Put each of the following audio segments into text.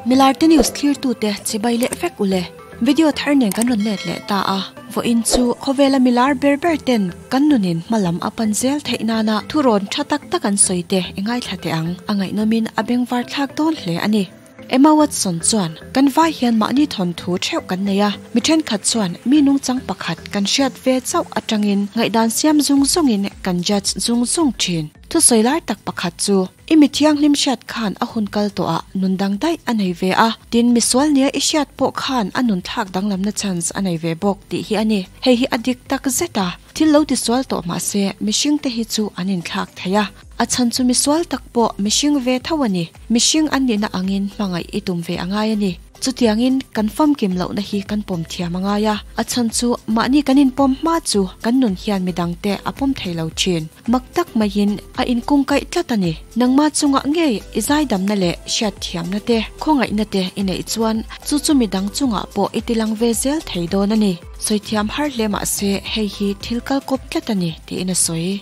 Milar te news thlir tu te chibai leh vek ule. Video thar nen kan rawn let leh ta a, vawiin chu khawvela milar ber ber ten kan nun in hma lam a pan zel theih nana thu rawn tha tak tak an sawi te e ngai thla teh ang, a ngaihnawm in a beng var thlak dawn hle a ni. Emma Watson chuan, Kan vai hian mahni thawnthu theuh kan nei a, mi thenkhat chuan mi nungchang pakhat kan hriat ve chauh atangin ngaihdan siam zung zungin kan judge zung zung thin. Thusawi lar tak pakhat chu i mi thianghlim hriat khan a hun kal tawh ah nun dang daih a nei ve a, tin misual nia i hriat pawh khan a nun thlak danglamna chance a nei ve bawk tih hi a ni. Hei hi a dik tak zet a, thil lo ti sual tawh mah se mihring te hi chu an in thlak thei a, a chhan chu misual tak pawh mihring ve tho a ni, mihring an nihna angin hmangaih i tum ve a ngai a ni. Chutiangin kan famkim lohna hi kan pawm thiam a ngai a. A chhan chu, mahni kan inpawm hma chu kan nun hian midangte a pawm thei lo thin. Mak tak maiin a inkungkaih tlat a ni. Nangma chungah ngei i zaidamna leh hriatthiamna te, khawngaihna te i neih chuan chu chu midang chungah pawh i tilang ve zel thei dawn a ni. Sawithiam har hle mah se hei hi thil kal kawp tlat a ni, tiin a sawi.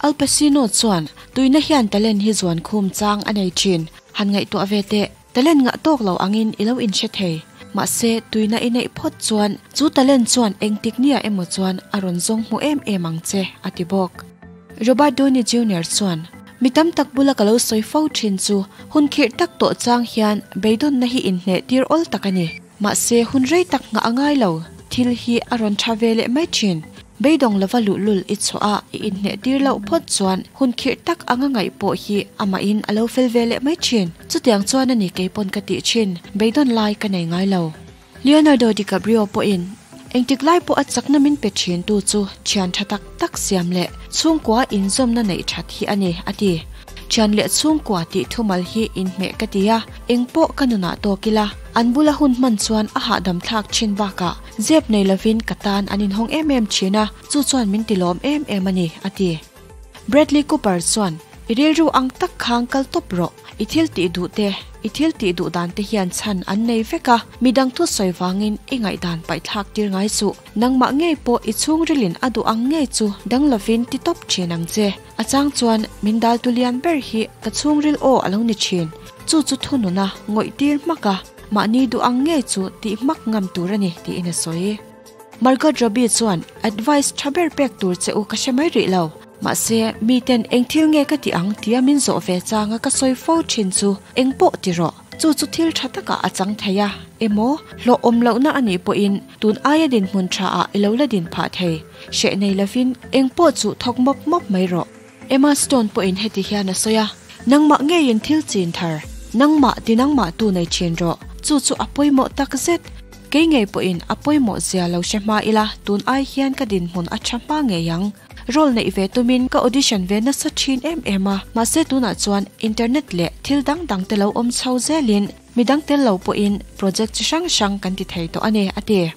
Al Pacino chuan, Tuihna hian talent hi zuan khum chang a nei thin. Han ngaihtuah ve teh. Talent ngah tawk lo angin i lo inhre thei. Mahse, tuina i neih phawt chuan chu talent chuan engtik niah emaw chuan a rawn zawng hmu em em ang che, a ti bawk. Robert Downey Junior chuan, Mi tam tak bula ka lo sawi fo thin chu, hun khirh tak tawh chang hian beidawnna hi inhneh tir awl tak a ni. Mahse, hun rei tak nghah a ngai lo. Thil hi a rawn tha ve leh mai thin. Beidawng lova luhlul i chhuah a, i inhneh tir loh phawt chuan hun khirh tak a nga ngaih pawh hi amahin a lo fel ve leh mai thin. Chutiang chuan a ni kei pawn ka tih thin. Beidawn lai ka nei ngai lo. Leonardo DiCaprio pawhin Engtik lai pawha chakna min pe thintu chu thian tha tak tak siam leh chhungkua inzawmna neih that hi a ni, a ti. Thian leh chhungkua tih thumal hi inhmeh ka ti a, eng pawh ka nunah tawk ila. An bula hun hman chuan a hahdam thlak thin bakah zep nei lovin ka tan an inhawng em em thin a, chu chuan min ti lawm em em a ni, a ti. Bradley Cooper chuan, I rilru ang tak khang kal tawp rawh. I thil tih duh te, i thil tih duh dan te hian chhan an nei vek a, midang thu sawi vangin i ngaihdan paihthlak tir ngai chu. Nangmah ngei pawh i chhungrilin a duh ang ngei chu dang lovin ti tawp thin ang che. A chang chuan, min dal tu lian ber hi ka chhungril aw a lo ni thin. Chu chu thununa ngawih tir hmak a, mahni duh ang ngei chu tih hmak ngam tur a ni, tiin a sawi. Margot Robbie chuan, Advice tha ber pek tur che u ka hre mai rih lo. Mahse, miten eng thil nge ka tih ang tia min zawh ve changa ka sawi fo thin chu eng pawh ti rawh. Chu chu thil tha takah a chang thei a, emaw hlawhawm lohna a nih pawhin tun aia dinhmun tha ah i lo la din phah thei. Hreh nei lovin eng pawh chuh thawk mawp mawp mai rawh. Emma Stone pawhin heti hian a sawi a, Nangmah ngeiin thil chin thar, nangmah ti nangmah tu nei thin rawh, chu chu a pawimawh tak zet. Kei ngei pawhin a pawimawh zia lo hre hma ila, tun ai hian ka dinhmun a tha hma ngei ang. Role neih ve tumin ka audition ve nasa thin em em a, mahse tunah chuan internet leh thil dang dangte lo awm chho zelin, Midang tel lo pawhin project chi hrang hrang kan ti thei tawh a ni, a ti.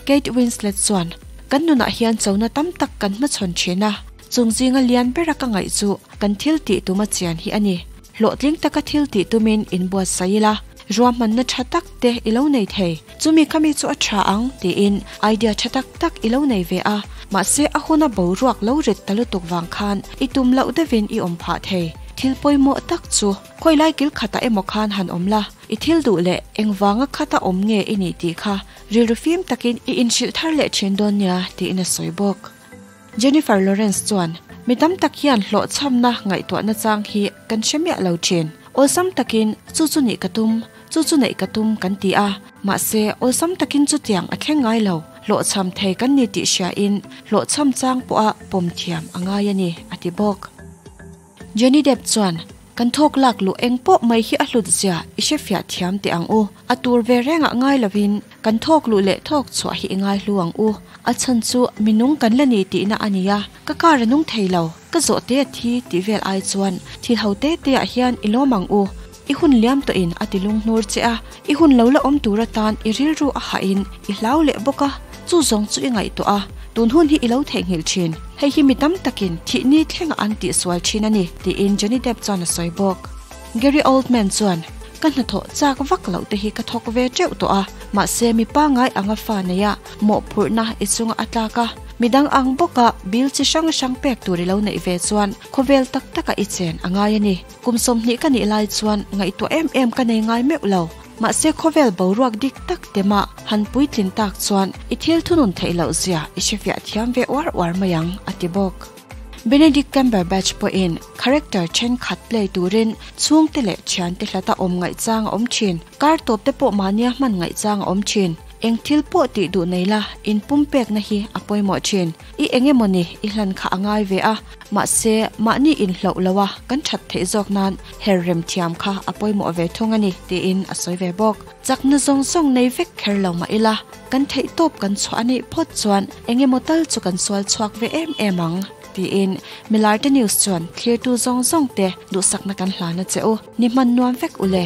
Kate Winslet chuan, Kan nunah hian chona tam tak kan hmachhawn thin a, chung zinga lian bera ka ngaih chu kan thil tih tuma chian hi a ni. Hlawhtling taka thil tih tumin in buatsaih ila, ruahmanna tha tak te i lo nei thei. Chumi khami chu a tha ang tiin idea tha tak tak i lo nei ve a, mahse a huna boruak lo rit ta lutuk vang khan i tum loh deuhin i awm phah thei. Thil pawimawh tak chu Khawilai kil khatah emaw khan han awm la, i thil duh leh engvanga khata awm nge i nih tih kha rilru fim takin i inhrilh thar leh thin dawn nia tiin a sawi bawk. Jennifer Lawrence chuan, Mi tam tak hian hlawhchhamna ngaihtuahna chang hi kan hre miah lo thin. Awlsam takin, chu chu nih ka tum, chu chu neih ka tum kan ti a, mahse awlsam takin chutiang a thleng ngai lo, hlawhchham thei kan ni tih hriain hlawhchham chang pawha pawm thiam a ngai a ni, a ti bawk. Johnny Depp chuan, Kan thawk lak luh eng pawh mai hi a hlut zia i hre fiah thiam teh ang u. A tur ve rengah ngai lovin kan thawk luh leh thawk chhuah hi i ngai hlu ang u. A chhan chu minung kan la ni tihna a ni a, ka car a nung thei lo, ka zawh te a thi tih vel ai chuan thil ho te teah hian i lawm ang u. I hun liam tawh in a ti lung hnur che a, i hun lo la awm tur atan i rilru a hah in i hlau leh bawk a, chu zawng chu i ngaih tawh a, tun hun hi i lo theih nghilh thin, hei hi mi tam tak in thih ni thlengah an tih sual thin a ni, tiin Johnny Depp chuan a sawi bawk. Gary Oldman chuan, Ka hnathawh chak vak loh te hi ka thawk ve teuh tawh a, mahse mi pangai anga fa nei a mawhphurhna i chunga a tlak a, mi dang ang bawk a bil chi hrang hrang pek tur i lo neih ve chuan khawvel tak tak ah i chen a ngai a ni. Kum sawmhnih ka nih lai chuan ngaihtuah em em ka nei ngai meuh lo. Mahse khawvel boruak dik tak te mah han puitlin tak chuan i thil thunun theih loh zia i hrefiah thiam ve uar uar mai ang, a ti bawk. Benedict Cumberbatch pawhin character thenkhat play turin chhungte leh thiante hlata awm ngaihchang a awm thin. Kar tawpte pawh mahnia hman ngaihchang a awm thin. Eng thil pawh tih duh nei la in pumpekna hi a pawimawh thin. I eng emawni i hlan kha a ngai ve a, mahse, mahni in hloh loha kan that theih zawk nan her remthiam kha a pawimawh ve thung a ni, tiin a sawi ve bawk. Chakna zawng zawng nei vek kher lo mah ila kan theihtawp kan chhuah a nih phawt chuan eng emaw tal chu kan sual chhuak ve em em ang, tiin Milarte News chuan thlirtu zawng zawng te duhsakna kan hlan a che u, ni hman nuam vek u le.